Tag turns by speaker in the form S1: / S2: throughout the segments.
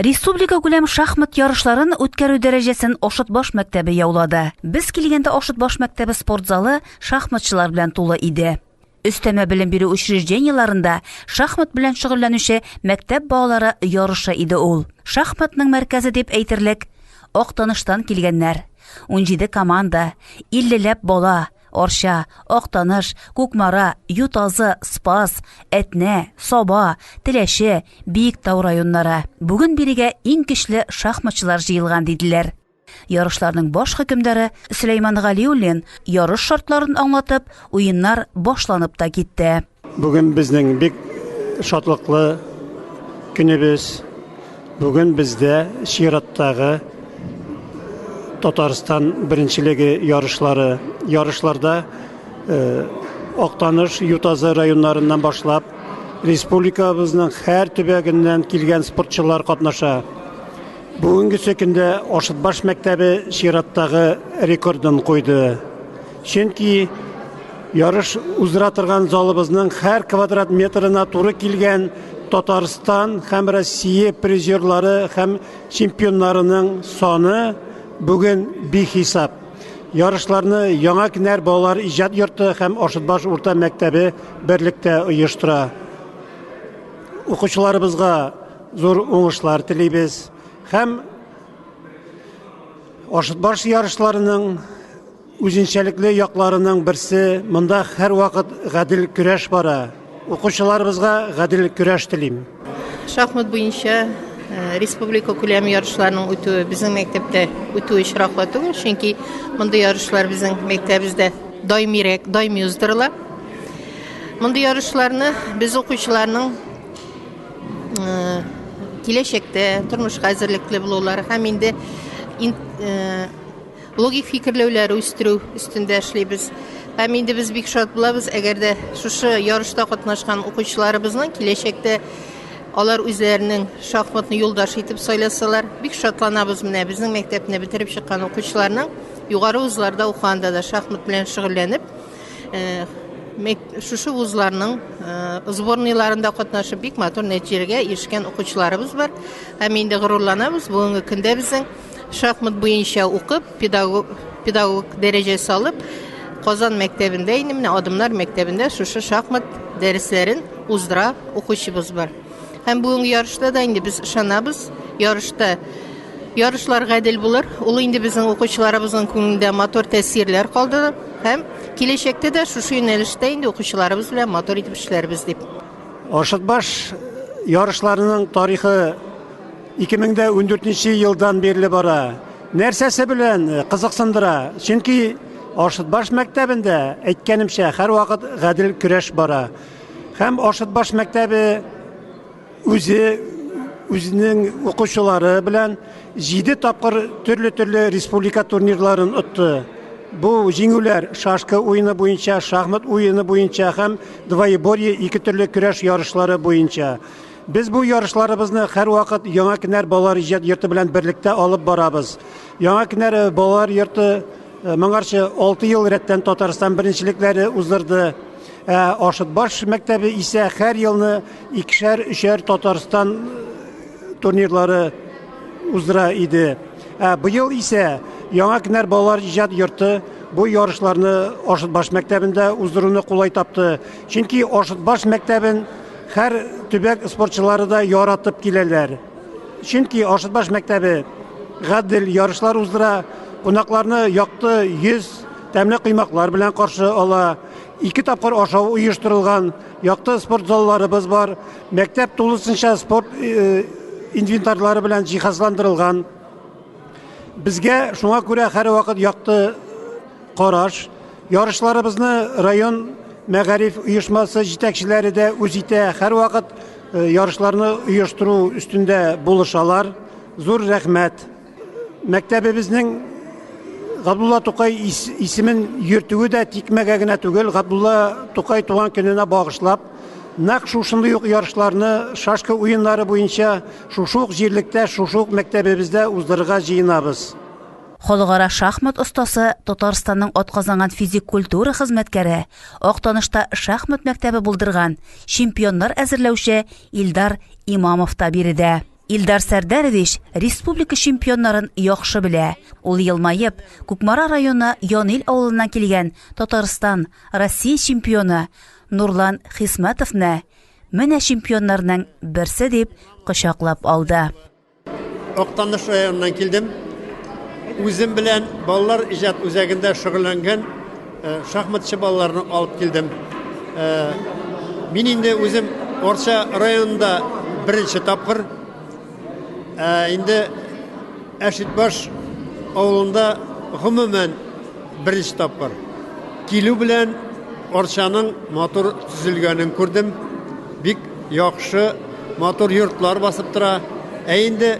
S1: Республика күләм шахмат ярышларын үткәрү дәрәҗәсен Ошыт баш мәктәбе яулады. Без килгәндә Ошыт баш мәктәбе спорт залы шахматчылар белән тулы иде. Өстәмә белем бирү учреждениеларында шахмат белән шөгыльләнүче мәктәп балалары ярышы иде ул. Шахматның мәркәзе дип әйтерлек Актаныштан килгәннәр. 17 команда, 50 ләп бала, Арча, Актаныш, Кукмара, Ютазы, Спас, Әтнә, Саба, Теләче, Биектау районнары. Бүген бирегә иң көчле шахматчылар җыелган, диделәр. Ярышларның баш хөкемдары Сөләйман Галиуллин ярыш шартларын аңлатып, уеннар башланып та китте. Бүген безнең
S2: бик шатлыклы көнебез. Бүген бездә чираттагы Татарстан беренчелеге ярышлары. Ярышларда э, Актаныш, Ютазы районнарыннан башлап, республикабызның һәр төбәгеннән килгән спортчылар катнаша. Бүгенге көндә Ашытбаш мәктәбе чираттагы рекордын куйды. Чөнки ярыш уздыра торган залыбызның һәр квадрат метрына туры килгән Татарстан һәм Россия призерлары һәм чемпионнарының саны бүген бихисап. Ярышларны Яңа Кенәр балалар иҗат йорты һәм Ашытбаш урта мәктәбе берлектә оештыра. Укучыларыбызга зур уңышлар телибез һәм Ашытбаш ярышларының Үзенчәлекле якларының берсе, монда һәрвакыт гадел көрәш бара. Укучыларыбызга гадел көрәш телим. Шахмат
S3: буенча Э, республика күләм ярышларының үтүе безнең мәктәптә үтү очраклы түгел, чөнки мондый ярышлар безнең мәктәбебездә даимирәк, даими уздырыла. Мондый ярышларны без укучыларның э, киләчәктә тормышка әзерлекле булулары һәм инде э, Логик фикерләүләр үстерү өстендә эшлибез. Һәм инде без бик шат булабыз, әгәр дә шушы ярышта катнашкан укучыларыбызның киләчәктә алар үзләренең шахматны юлдаш итеп сайласалар, бик шатланабыз менә безнең мәктәпне бетереп чыккан укучыларның югары вузларда укыганда да шахмат белән шөгыльләнеп, шушы вузларның сборныйларында катнашып бик матур нәтиҗәләргә ирешкән укучыларыбыз бар. Һәм инде горурланабыз, бүгенге көндә безнең Шахмат буенча укып, педагог, педагог дәрәҗәсе алып, Казан мәктәбендә инде менә Адымнар мәктәбендә шушы шахмат дәресләрен уздыра укучыбыз бар. Һәм бүгенге ярышта да инде без ышанабыз, ярышта ярышлар гадел булыр. Ул инде безнең укучыларыбызның күңелендә матур тәэсирләр калды һәм киләчәктә дә шушы юнәлештә инде укучыларыбыз белән матур итеп эшләрбез дип. Аршытбаш
S2: ярышларының тарихы 2014 нче елдан бирле бара. Нәрсәсе белән кызыксындыра? Чөнки Ашытбаш мәктәбендә, әйткәнемчә, һәрвакыт гадел көрәш бара. Һәм Ашытбаш мәктәбе үзе үзенең укучылары белән җиде тапкыр төрле-төрле республика турнирларын отты. Бу җиңүләр шашка уены буенча, шахмат уены буенча һәм двоеборье ике төрле көрәш ярышлары буенча. Без бу ярышларыбызны һәрвакыт Яңа Кенәр балалар иҗат йорты белән берлектә алып барабыз. Яңа Кенәр балалар йорты моңарчы 6 ел рәттән Татарстан беренчелекләре уздырды. Ә Ашытбаш мәктәбе исә һәр елны икешәр-өчәр Татарстан турнирлары уздыра иде. Ә быел исә Яңа Кенәр балалар иҗат йорты бу ярышларны Ашытбаш мәктәбендә уздыруны кулай тапты. Чөнки Ашытбаш мәктәбен Һәр төбәк спортчылары да яратып киләләр. Чөнки Ашытбаш мәктәбе гадел ярышлар уздыра, кунакларны якты йөз, тәмле коймаклар белән каршы ала. Ике тапкыр ашау оештырылган, якты спорт залларыбыз бар. Мәктәп тулысынча спорт инвентарьлары белән җиһазландырылган. Безгә шуңа күрә һәрвакыт якты караш. Ярышларыбызны район мәгариф оешмасы җитәкчеләре дә үз итә. Һәрвакыт э, ярышларны оештыру өстендә булышалар. Зур рәхмәт. Мәктәбебезнең Габдулла Тукай ис- исемен йөртүе дә тикмәгә генә түгел, Габдулла Тукай туган көненә багышлап, нәкъ шушындый ук ярышларны шашка уеннары буенча Шушы ук җирлектә, шушы ук мәктәбебездә уздырырга җыенабыз. Халыкара
S1: шахмат остасы, Татарстанның атказанган физик культура хезмәткәре, Актанышта шахмат мәктәбе булдырган, чемпионнар әзерләүче Илдар Имамов та биредә. Илдар Сәрдәрович республика чемпионнарын яхшы белә. Ул елмаеп, Кукмара районы Янил авылыннан килгән Татарстан, Россия чемпионы Нурлан Хисмәтовны, Менә чемпионнарның берсе дип кочаклап алды.
S4: Актаныш районыннан килдем. Үзем белән балалар иҗат үзәгендә шөгыльләнгән э, шахматчы балаларны алып килдем. Э, мин инде үзем Орча районында беренче тапкыр Ә инде Әшитбаш авылында гомумән беренче тапкыр килү белән Арчаның матур төзелгәнен күрдем. Бик яхшы, матур йортлар басып тора. Ә инде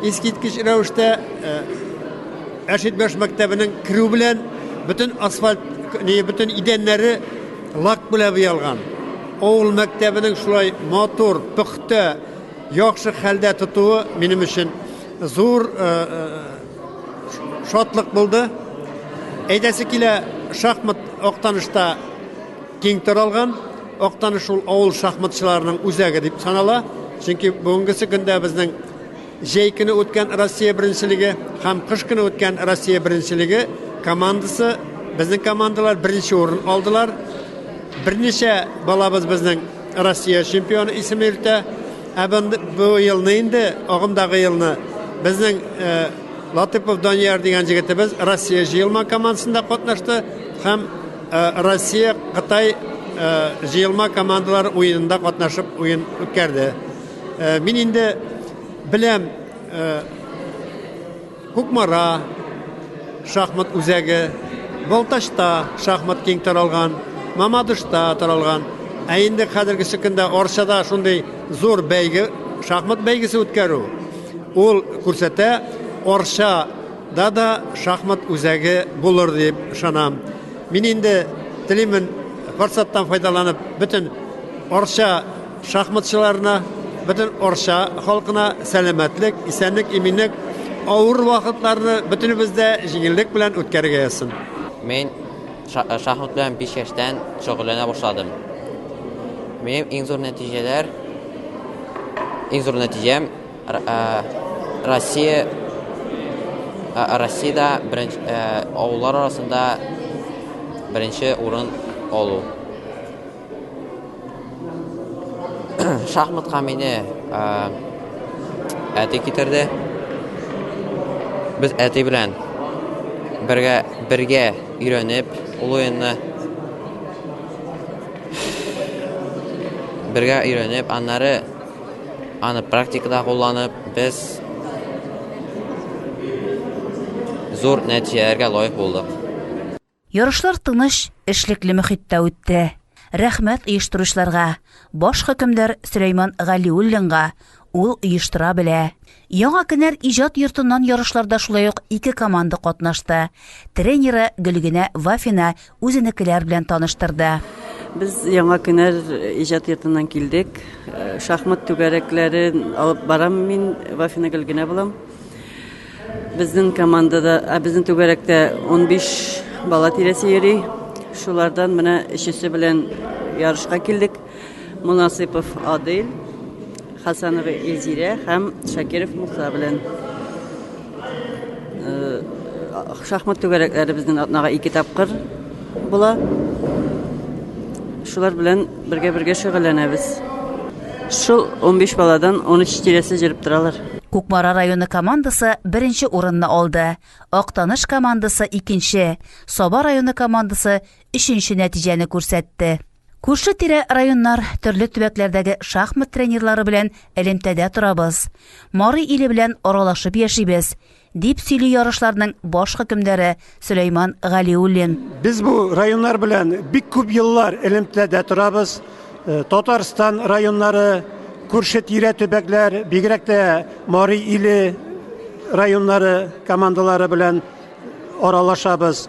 S4: искиткеч рәвештә э, Әшитбаш мәктәбенең керү белән бөтен асфальт, не, бөтен идәннәре лак белән буялган. Авыл мәктәбенең шулай матур, пөхтә, Яхшы хәлдә тотуы минем өчен зур шатлык булды. Әйдәсе килә шахмат Актанышта киң таралган. Актаныш шул авыл шахматчыларының үзәге дип санала. Чөнки бүгенгесе көндә безнең җәй көне үткән Россия беренчелеге һәм кыш көне үткән Россия беренчелеге командасы, безнең командалар беренче урын алдылар. Берничә балабыз безнең Россия чемпионы исеме илтә. Ә бу елны инде, агымдагы елны безнең Латыпов Данияр дигән җегетебез Россия җыелма командасында катнашты һәм Россия Кытай җыелма командалар уенында катнашып уен үткәрде. Мин инде беләм Кукмара шахмат үзәге, Балтачта шахмат киң таралган, Мамадышта таралган. Ә инде хәзергече көндә Арчада шундый зур бәйге, шахмат бәйгесе үткәрү, ул күрсәтә, Арчада да шахмат үзәге булыр дип ышанам. Мин инде телимен, форсаттан файдаланып, бөтен Арча шахматчыларына, бөтен Арча халкына сәламәтлек, исәнлек-иминлек, авыр вакытларны бөтенебез дә җиңеллек белән үткәрергә язсын. Мин
S5: шахмат белән биш яшьтән шөгыльләнә башладым. Минем иң зур нәтиҗәләр, иң зур нәтиҗәм Россия, Россиядә беренче, авыллар арасында беренче урын алу. Шахматка мине әти китерде. Без әти белән бергә бергә өйрәнеп ул уенны бергә өйрәнеп, аннары аны практикада кулланып, без зур нәтиҗәләргә лаек булдык. Ярышлар
S1: тыныч, эшлекле мөхиттә үтте. Рәхмәт оештыручыларга, баш хөкемдар Сөләйман Галиуллинга, ул оештыра белә. Яңа кенәр иҗат йортыннан ярышларда шулай ук ике команда катнашты. Тренеры Гөлгенә Вафина үзенекеләр белән таныштырды. Без яңа
S6: кенәр иҗат йортыннан килдек. Шахмат түгәрәкләрен алып барам мин, Вафина Гөлгенә булам. Безнең командада, ә безнең түгәрәктә унбиш бала тирәсе йөри. Шулардан менә өчесе белән ярышка килдек. Монасыйпов Адил, Хасанова Эльзирә һәм Шакиров Муса белән. Шахмат түгәрәкләре безнең атнага ике тапкыр була. Шулар белән Бергә-бергә шөгыльләнәбез. Шул унбиш баладан унөч тирәсе җөреп торалар. Кукмара районы
S1: командасы беренче урынны алды, Актаныш командасы икенче, Саба районы командасы өченче нәтиҗәне күрсәтте. Күрше-тирә районнар, төрле төбәкләрдәге шахмат тренерлары белән элемтәдә торабыз. Марый иле белән аралашып яшибез. дип сөйли ярышларның баш хөкемдәре Сөләйман Галиуллин. Без бу
S2: районнар белән бик күп еллар элемтәдә торабыз. Э, Татарстан районнары, күрше тирә төбәкләр, бигрәк тә Мари иле районнары командалары белән аралашабыз.